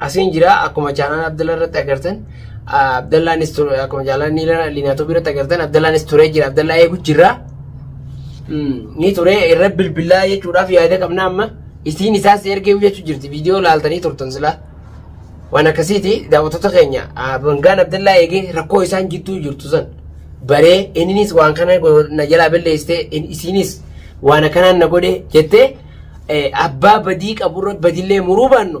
Asiin jira akkuma chaanaan Abdallaa irratti agartan Abdallaanis ture akkuma chaanaan Liinaatoobii irratti agartan Abdallaanis turee jira Abdallaa eegu jira. Ni turee irra bilbilaa jechuudhaaf yaada qabna amma isiin isaas ergee jechuu jirti viidiyoo laaltanii turtan silaa. Waan akkasiiti daawwattoota keenya bangaan Abdallaa eegee rakkoo isaan jidduu jirtu san baree inninis waan kana na jalaa balleessitee isiinis waan akkanaan na godhe jettee abbaa badii qaburra badillee muruu baannu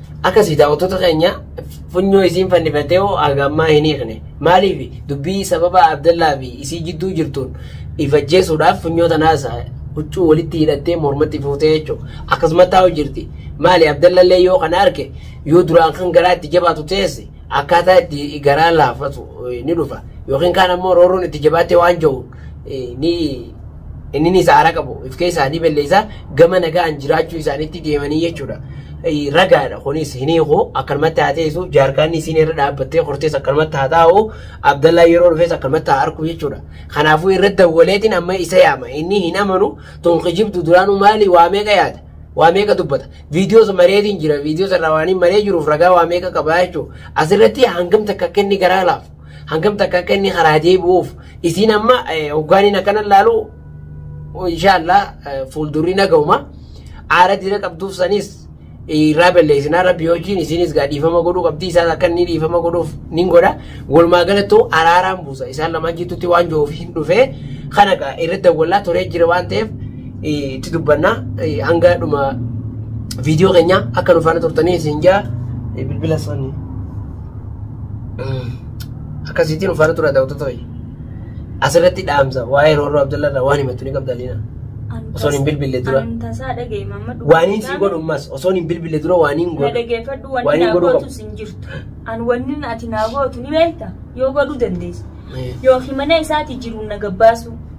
Akkasii daawwattoota keenya funyoo isiin fannifattee hoo haga ammaa hin hiikne. Maaliif dubbii sababa Abdallaa fi isii jidduu jirtuun ifajjeessuudhaaf funyoo tanaasa huccuu walitti hidhattee mormatti fuutee jechuudha. Akkasumas taa'u jirti. Maali Abdallallee yoo kana arke yoo duraan kan garaa itti jabaatu teesse akkaataa itti garaa laafatu ni dhufa. Yookiin kaan ammoo roorroon itti jabaattee waan ja'u ni inni ni sa'aara qabu if keessaa ni balleessa gama nagaan jiraachuu isaaniitti deemanii jechuudha. Ragaadha kunis hin hiiku akkanumatti haa teessu jaarkaanni isiin irra dhaabbattee hortees akkanumatti haa taa'u Abdallaa yeroo dhufees akkanumatti haa arku jechuudha. Kanaafuu irra dawwaleetiin amma isa yaama inni hin amanu tun kijibdu duraanuu maali waa meeqa yaada. waa meeqa dubbata viidiyoos mareetiin jira viidiyoos irraa waan hin maree jiruuf ragaa waa meeqa qabaa jechuudha asirratti hangam takka kenni garaa laaf hangam takka akka inni karaa deebi'uuf isiin amma hoggaaniin akkana laalu inshaallah fuuldurri nagahuma aara dira qabduuf sanis irraa balleessinaa rabbi hojiin isiinis gaa dhiifama godhuu qabdi isaan akka inni dhiifama godhuuf nin godha walumaa galattuu araaraan buusa isaan lamaan jidduutti waan jiruuf hin dhufee kana gaa irra dawwallaa turee jira waan ta'eef itti dubbannaa hanga dhuma viidiyoo keenya akka nufaana turtanii isin jaa bilbila sanii. Akkasiitiin uffata tura ta'utu ta'e. Asirratti dhaamsa waa'ee roorroo Abdallaa irraa waan himattu ni qabda Liina. Osoon hin bilbille dura. Ani tasaa dhaga'e mamma dhugaa. Waaniin si godhu ammas osoon hin bilbille dura waaniin Na godhu. dhageeffadhu Waan wanni hin naa godhu qabu. gootus hin jirtu. An wanni ati naa gootu ni beekta yoo godhuu dandeessu. Yookiin mana isaati jiruun na gabbaasu.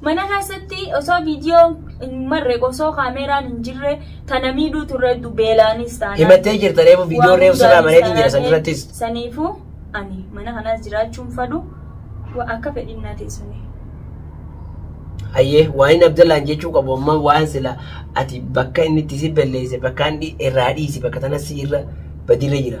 Mana keessatti osoo viidiyoo hin marre osoo kaameeraan hin jirre tana miidhuu turre hedduu beelaanis taanaan. Himattee jirta reefu viidiyoon reefu sirraa mareetiin jira san irrattis. Saniifuu ani mana kanaas jiraachuun fadhu wa- akka fedhiin naa teessumee. Hayyee waan inni Abdallaan jechuu qabu amma waan sila ati bakka inni itti si balleesse bakka inni irraa dhiisi bakka tanas si irra badirra jira.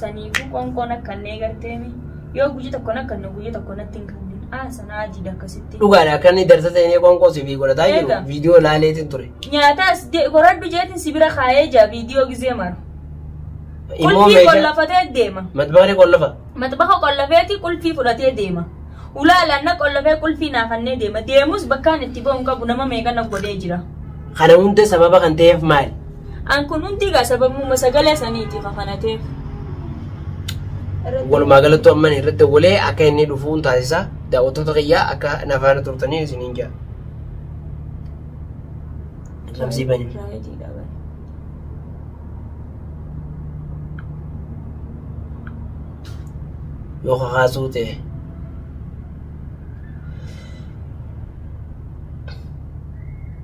Saniifuu qoonqoon akka hin eegarteemi. Yoo guyya tokko nakkan nu guyya tokko natti hin kanneen. Aa sana ajiidha akkasitti. Dhugaadha akka inni darsa seenee qoonqoo si fi godhataa jiru Eega. viidiyoo laaleetiin ture. Nyaataas de- goradhu jeetiin si bira kaayee jaa viidiyoo gizee mara. Immoo Qulfii meeshaa qollafatee deema. matbaaree qollafa. Matbaha qollafeeti qulfii fudhatee deema. Ulaalaan na qollafee qulfii naafannee deema. Deemus bakkaan itti ba'u hin qabu nama meeqa na godhee jira. Kana hunda sababa kan ta'eef maali? An kun hundi egaa sababuma sagalee saniiti ka kana ta'eef. Walumaa galattuu amman irratti dawwalee akka inni dhufuun taasisa. Daawwattoota kiyyaa akka na faana turtanii isiniin jaa. Labsii bani. Yoo kakaasuu ta'e.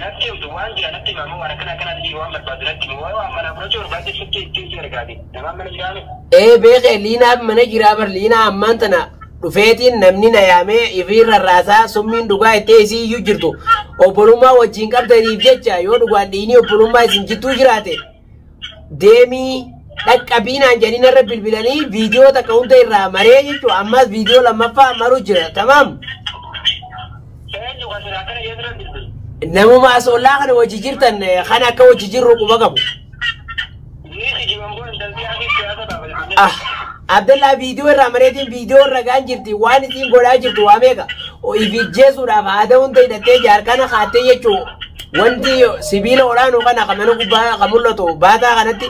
Natti himtu waan jira natti hima amma waan akkana akkanaa siif waan barbaaddu natti himi waan manaa fudhachuu barbaadde sitti ittiin si ergaati namaan mana jiraa miti. Ee beeke liinaa mana jiraa bar liinaa ammaan tana dhufeetiin namni na yaamee ifiin rarraasaa summiin dhugaa ittee isii iyyuu jirtu obbolummaa wajjiin qabdaniif jecha yoo dhugaan dhiinii obbolummaa isin jidduu jiraate deemii dhaqqabii naan jedhanii narra bilbilanii viidiyoo takka hunda irraa maree jechuudha. Ammas viidiyoo lammaffaa maru jira. Tamaam. Eenyu kan silaa kana jedhu irra bilbilu. Namuma asoollaa kana wajji jirtan eh, kan akka wajji jirru quba qabu. Ni kijiban kun intalti hafi siyaasa ta'a bilbilu. Ah, Abdallaa viidiyoo irraa mareetiin viidiyoo irra gaan jirti waan isiin godhaa jirtu waa meeqa ifijjeesuudhaaf haada hunda hidhattee jaarkana kaattee jechuu wanti sibiila olaanoo kana kan mana gubbaa kan mul'atu baataa kanatti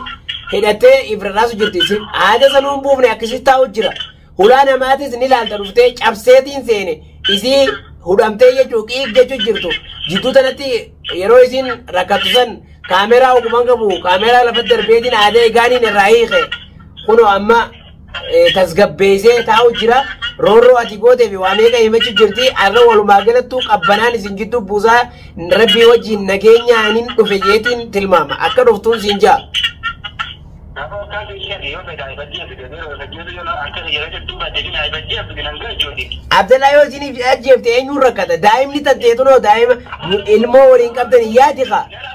hidhattee ifrirraasu jirti isin haada sanuu hin buufne akkasii taa'u jira hulaa namaatis ni laalta dhuftee cabseetiin seene isii hudhamtee jechuu qiiq jechuu jirtu jidduu tanatti yeroo isin rakkattu san kaameraa oguman qabu kaameraa lafatti darbeetiin haada egaaniin irraa hiike kunoo amma eh, tasgabbeessee taa'u jira. Roorroo ati gootee fi waa meeqa himachuu jirti. Har'a walumaa galattuu qabbanaan isin gidduu buusaa rabbii wajjin nageenyaan hin dhufe jeetiin tilmaama. Akka dhuftuun siin ja'a. Namoota keessan yoo fedha ibadii fi deebiin yoo fedha yoo akka yeroo jettuu baatee fi ibadii fi binan ga'e jooti. Abdallaa yoo isiniif ajjeefte eenyuun rakkata? Daa'imni tatteetunoo daa'ima ilmoo waliin qabdan yaadi kaa. Gara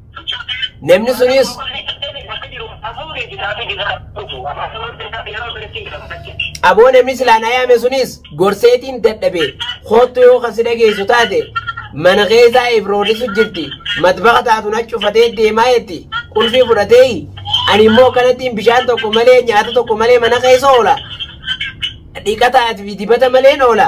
Namni sunis aboo namni silaa na yaame sunis gorseetiin dadhabe koottu yoo kan si dhageessu taate mana keessaa ifroorrisu jirti matbaqa taatu na cufatee deemaa jetti qulfii fudhatee ani immoo kanattiin bishaan tokko malee nyaata tokko malee mana keessa oola dhiqataa fi dibata maleen oola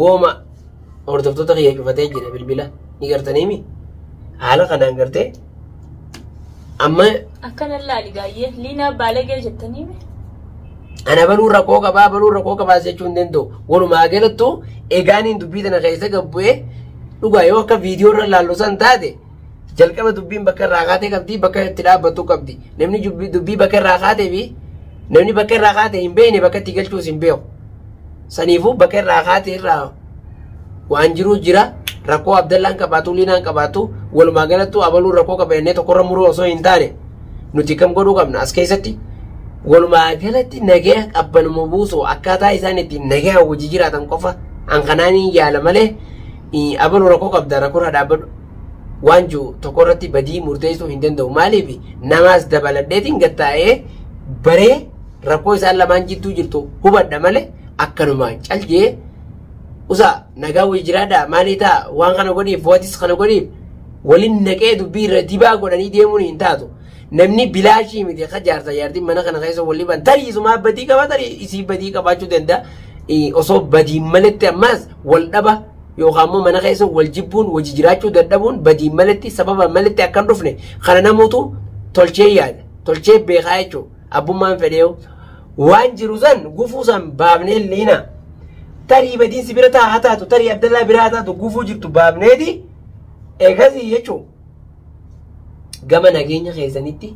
wooma hordoftoota kiyya cufatee jira bilbila ni gartaniimi haala kanaan gartee amma Akkana laali gaayyee liinaa baalagee jettanii mi? ana baluu rakkoo qabaa baluu rakkoo qabaa jechuu hin danda'u walumaa galattuu egaaniin dubbii tana keessa gabbu'ee dhugaa yoo akka viidiyoo irra laallu san taate Jalqaba dubbiin bakka irraa kaatee qabdi, bakka itti dhaabbattu qabdi. Namni jubbi- dubbii bakka irraa kaatee fi namni bakka irraa kaatee hin beekne bakka itti galchuus hin beeku. Saniifuu bakka irraa kaatee irraa waan jiru jira. Rakkoo Abdallaan qabaatu, Liinaan qabaatu, walumaa galattuu abaluun rakkoo qaba jennee tokkorra muruu osoo hin taane nuti kam godhuu qabna as keessatti. Walumaa galatti nagaya qabbanuma buusu akkaataa isaan ittiin nagaya hojii jiraatan qofa an kanaaniin yaala malee ii abalu rakoo qabda rakorra dhaabadhu waan ju tokko irratti badii murteessuu hin danda'u maaliif namaas dabaladheetiin gattaa'ee baree rakkoo isaan lamaan jidduu jirtu hubadha malee akkanuma caljee usa nagaa wayii jiraadha maalii ta'a waan kana godhiif watis kana godhiif waliin naqee dubbii irra dibaa godhanii deemuun hin taatu. Namni bilaashii miti akka jaarsa jaartiin mana kana keessa wal dhiban tarii isumaa badii qaba tarii isii badii qabaachuu danda'a. Osoo badii maletti ammaas wal dhaba yookaan immoo mana keessa wal jibbuun wajji jiraachuu dadhabuun badiin malatti sababa malatti akka hin dhufne kana namuutu tolchee yaada tolchee beekaa jechuudha abbummaan fedhee waan jiru san gufuu san baafnee liina tarii badiin si bira taa haa taatu tarii abdallaa biraa haa taatu gufuu jirtu baafneeti eegasii jechuudha. gama nageenya keessanitti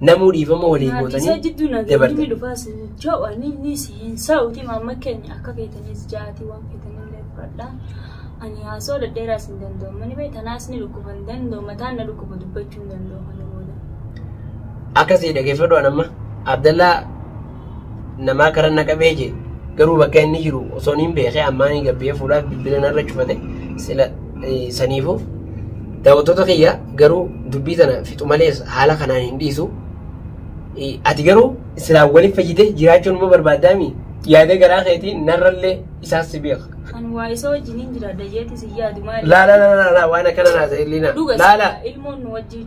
namuu dhiifama walii Maatii isaa gootanii jidduu nageenya dabartan. ni dhufaa sin ja'u ani ni si hin sa'uti maamma keenya akka feetaniis ja'aati waan feetanillee fudhadha. Ani haasoo dhedheeraa sin danda'u mani bee tanaas ni dhukkuba hin danda'u mataan na dhukkuba dubbachuu hin danda'u kana booda. Akkasii dhageeffadhu an amma Abdallaa namaa karan na qabee jee garuu bakka inni jiru osoo niin beekee ammaa ni gabbee fuudhaaf bilbila narra cufate sila eh, saniifuu daawwattoota kiyya garuu dubbii tana fixu malees haala kanaan hin dhiisu. Eh, Ati garuu silaa waliif fayyite jiraachuun immoo barbaaddaami yaada garaa keetii narrallee isaas si beeka. Kan waa isa wajjin hin jiraadha jeetis hin yaadu maali? Laa laa laa laa laa waan akkana naa ta'e illiina. Dhuga laa laa. ilmoon nu wajjin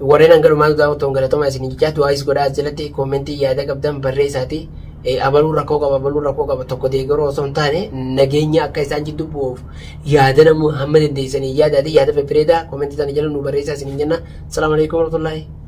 Warreen hanga dhumaa daawwattan galatoomaa isin jechaa du'aayis godhaa as jalatti koomentii yaada qabdan barreessaati. Abaluu rakkoo qaba abaluu rakkoo qaba tokko deeggaruu osoo hin taane nageenya akka isaan jidduu bu'uuf yaada namuu hamma dandeessanii yaadaati yaada febbireedaa koomentii isaanii jala nu barreessaa isin hin jenna. Salaamu alaikum warahmatullahi.